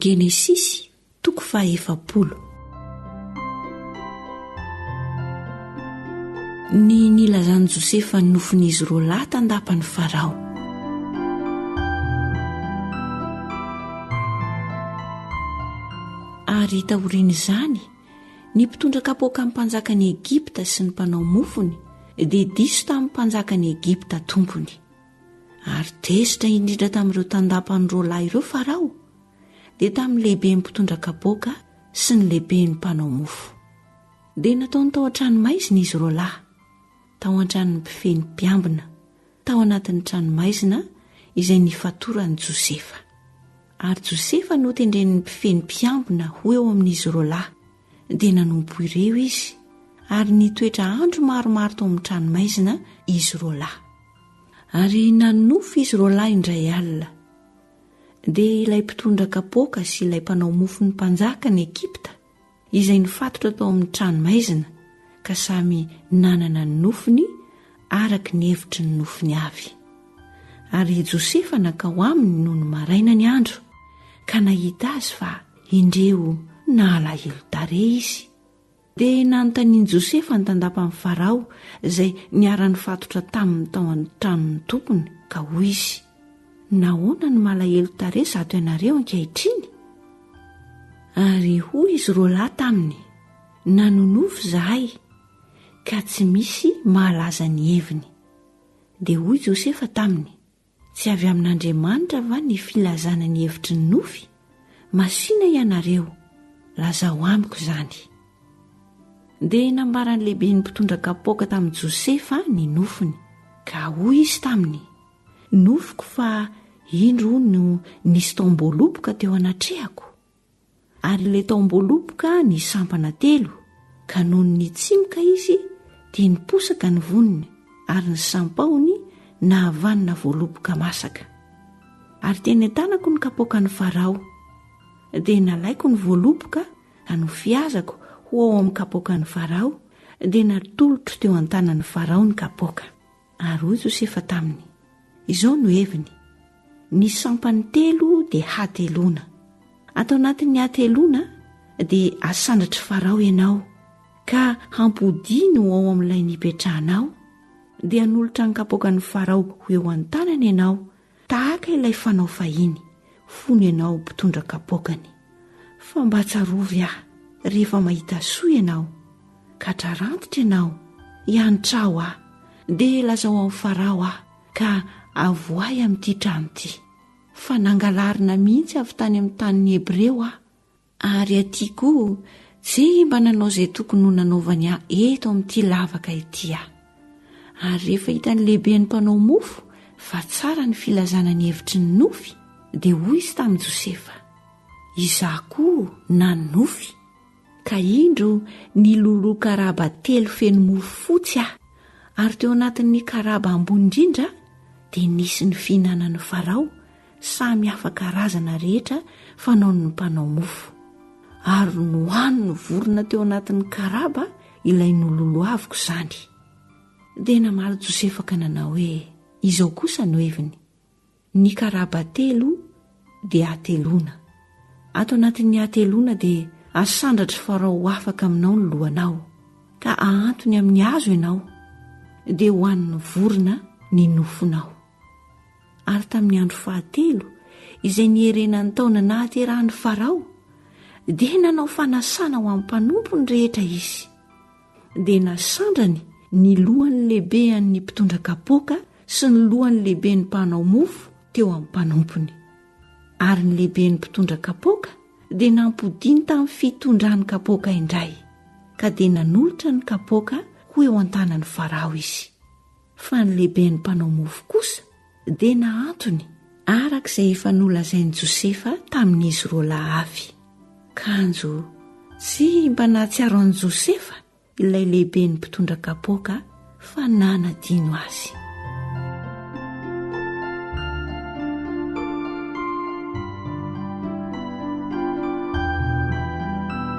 Genesisy toko fahaefapolo. Ny nilazan'i Josefa ny nofin'izy roa lahy tandapan'i Farao. Ary taorian'izany, ny mpitondra kapoakan'ny mpanjakan'i Egypta sy ny mpanao mofony dia diso tamin'ny mpanjakan'i Egypta tompony. ary tezitra indrindra tamin'ireo tandapan'ny roalahy ireo Farao dia tamin'ny lehiben'ny mpitondra kapoaka sy ny lehiben'ny mpanao mofo. Dia nataony tao an-tranomaizina izy roalahy, tao an-tranon'ny mpifehy ny mpiambina, tao anatin'ny tranomaizina izay nifatoran'i Josefa. Ary Josefa notendren'ny mpifehy ny mpiambina ho eo amin'izy roalahy dia nanompo ireo izy ary nitoetra andro maromaro tao amin'ny tranomaizina izy roa lahy ary nanofy izy roa lahy indray alina dia ilay mpitondra kapoaka sy ilay mpanao mofo ny mpanjaka ny ekipta izay nifatotra tao amin'ny tranomaizina ka samy nanana ny nofiny araka ny hevitry ny nofiny avy ary i josefa nankao aminy noho ny maraina ny andro ka nahita azy fa Indreo nalahelo tarehy izy. Dia nanontanian'i Josefa ny tandapan'i Farao izay niara-nifatotra taminy tao an-tranon'ny tompony, ka hoy izy, Nahoana no malahelo tarehy izato ianareo ankehitriny? Ary hoy izy roa lahy taminy, Nanonofy izahay, ka tsy misy mahalaza ny heviny. Dia hoy Josefa taminy, Tsy avy amin'Andriamanitra va ny filazana ny hevitry ny nofy? Masìna ianareo, lazao amiko izany. Dia nambaran'ny lehiben'ny mpitondra kapoaka tamin'i Josefa ny nofiny. Ka hoy izy taminy, Nofiko fa indro no nisy taom-boaloboka teo anatrehako. Ary ilay tao am-boaloboka ny sampana telo, ka nony nitsimoka izy dia niposaka ny voniny, ary ny sampahony nahavanona voaloboka masaka. Ary teny an-tanako ny kapoakan'i Farao, dia nalaiko ny voaloboka ka nofihazako ho ao amin'ny kapoakan'i Farao, dia natolotro teo an-tanan'i Farao ny kapoaka. Ary hoy Josefa taminy, Izao no heviny, ny sampany telo dia hateloana. Ato anatin'ny hateloana dia hasandratr'i Farao ianao, ka hampodiany ho ao amin'ilay nipetrahanao, dia hanolotra ny kapoakan'i Farao ho eo an-tanany ianao Tahaka ilay fanao fahiny, fony ianao mpitondra kapoakany. Fa mba tsarovy aho rehefa mahita soa ianao, ka trarantitra ianao, hianitraho aho, dia lazao amin'i Farao aho, ka avoahy amin'ity trano ity. Fa nangalarina mihitsy avy tany amin'ny tanin'ny Hebreo aho, Ary aty koa ve mba nanao izay tokony ho nanaovany ahy eto amin'ity lavaka ity aho? Ary rehefa hitan'ny lehiben'ny mpanao mofo fa tsara ny filazana ny hevitry ny nofy, dia hoy izy tamin'i Josefa, Izaho koa nanonofy, ka indro niloloha karaba telo feno mofo fotsy aho, ary teo anatin'ny karaba ambony indrindra dia nisy ny fihinanan'i Farao Samy hafa karazana rehetra fanaon'ny mpanao mofo, ary nohanin'ny vorona teo anatin'ny karaba ilay nololohaviko izany. Dia namaly Josefa ka nanao hoe, Izao kosa no heviny, ny karaba telo dia hateloana. Ato anatin'ny hateloana dia hasandratry Farao ho afaka aminao ny lohanao, ka hahantony amin'ny hazo ianao, dia hohanin'ny vorona ny nofonao. Ary tamin'ny andro fahatelo, izay niherena ny taona nahaterahan'i Farao, dia nanao fanasana ho amin'ny mpanompo ny rehetra izy. Dia nasandrany ny lohan'ny lehibehan'ny mpitondra kapoaka sy ny lohan'ny lehiben'ny mpanao mofo teo amin'ny mpanompony. Ary ny lehiben'ny mpitondra kapoaka dia nampodiany tamin'ny fitondrany kapoaka indray, ka dia nanolotra ny kapoaka ho eo an-tanan'i Farao izy. Fa ny lehiben'ny mpanao mofo kosa dia nahantony araka izay efa nolazain'i Josefa tamin'izy roalahy avy. Kanjo tsy mba nahatsiaro an'i Josefa ilay lehiben'ny mpitondra kapoaka fa nanadino azy.